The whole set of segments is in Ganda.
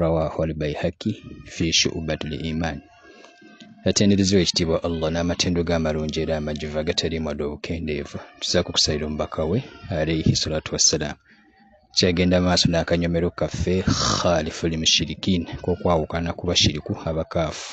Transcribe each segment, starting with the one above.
rawahu albaihaki fi shubat liman yatendereza ekitiibwa allah n'amatendo ge amalungi era amajuvu agataliimu adde obukendeevu tuzaako okusalira omubaka we alaihi salatu wassalaamu kyagenda maaso n'akanyomero kaffe khalifu limushirikin k'okwawukana ku bashiriku abakaafu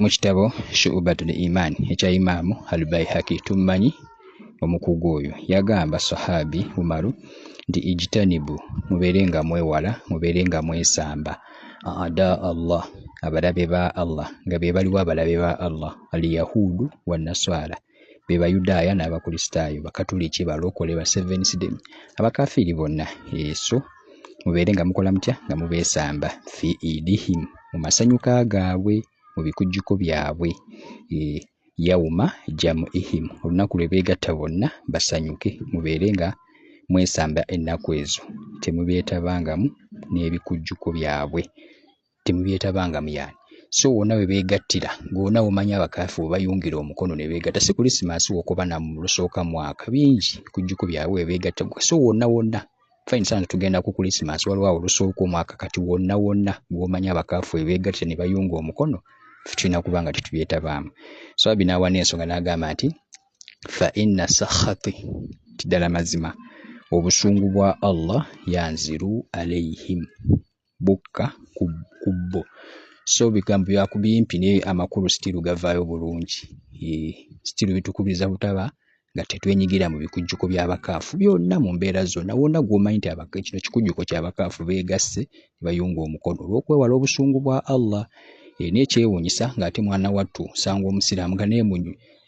Mu kitabo Shu'ubatul Iman ekya Imaamu Al-Baihaqi tummanyi omukugu oyo yagamba Sahabi Umaru nti ijtanibu mubeere nga mwewala mubeere nga mwesamba ada Allah abalabe ba Allah nga be baliwo abalabe ba Allah aliyahuudu wannaswala be bayudaaya n'abakristaayo bakatuliki balokole ba seventh day abakafiiri bonna eso mubeere nga mukola mutya nga mubeesamba fi idihim mu masanyuka gaabwe mu bikujjuko byabwe eh, yauma jamu ihim olunaku lwe beegatta bonna basanyuke mubeere nga mwesamba ennaku ezo temubeetabangamu n'ebikujjuko byabwe temubyetabangam yani so wona webegattira gwona womanya abakafu webayungira omukono nebegatta si kulisimansi wokuba namulusooka mwaka bingi kujjuko byawe webegatta so wonna wonna fine sana tugenda ku kulisimansi waliwo awo olusooka omwaka kati wonna wonna gwomanya abakafu webegattira nebayunga omukono tulina kuba nga tetubyetabaamu so abi n'awa n'ensonga n'agamba nti fa inna sahati nti ddala mazima obusungu bwa allah yanziru alaihim bukka ku kubbo so bigambo byakubimpi naye amakulu sitiru gavaayo bulungi sitiru bitukubiriza butaba nga tetwenyigira mu bikujjuko by'abakaafu byonna mu mbeera zonna wonna gw'omanyi nti kino kikujjuko ky'abakaafu beegasse ne bayunga omukono olw'okwewala obusungu bwa allah e, n'ekyewuunyisa ng'ate mwana wattu sanga omusiraamu nga naye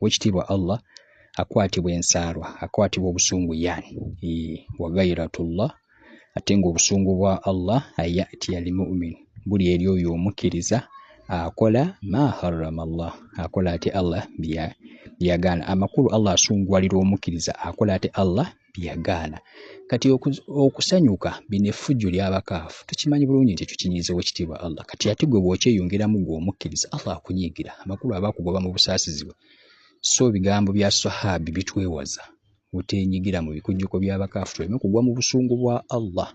wekitiibwa allah akwatibwa ensaalwa akwatibwa obusungu yani wagairatullah ate nga obusungu bwa allah ayati almumin buli eri oyo omukkiriza akola ma harrama llah akola ate allah byeyagaana amakulu allah asunguwalira omukkiriza akola ate allah yagaana kati okusanyuka bino effujjo ly'abakaafu tukimanyi bulungi nti ekyo kinyiiza wekitiibwa allah kati ate gwe bw'okyeyongeramu gwe omukkiriza allah akunyiigira amakulu aba akugoba mu busaasizi bwe so ebigambo bya sahabi bitwewaza otenyigira mu bikujjuko by'abakaafu tuleme kugwa mu busungu bwa allah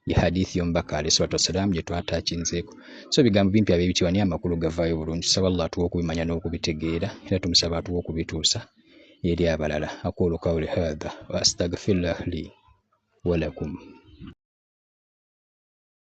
ye hadithi y'omubaka alayhi salatu wassalamu gye twataakinzeeko so ebigambo bimpi ab'ebitiibwa naye amakulu gavaayo bulungi tusaba allah atuwa okubimanya n'okubitegeera era tumusaba atuwa okubituusa eri abalala aqulu qawli hadha wa astagfirullah li walakum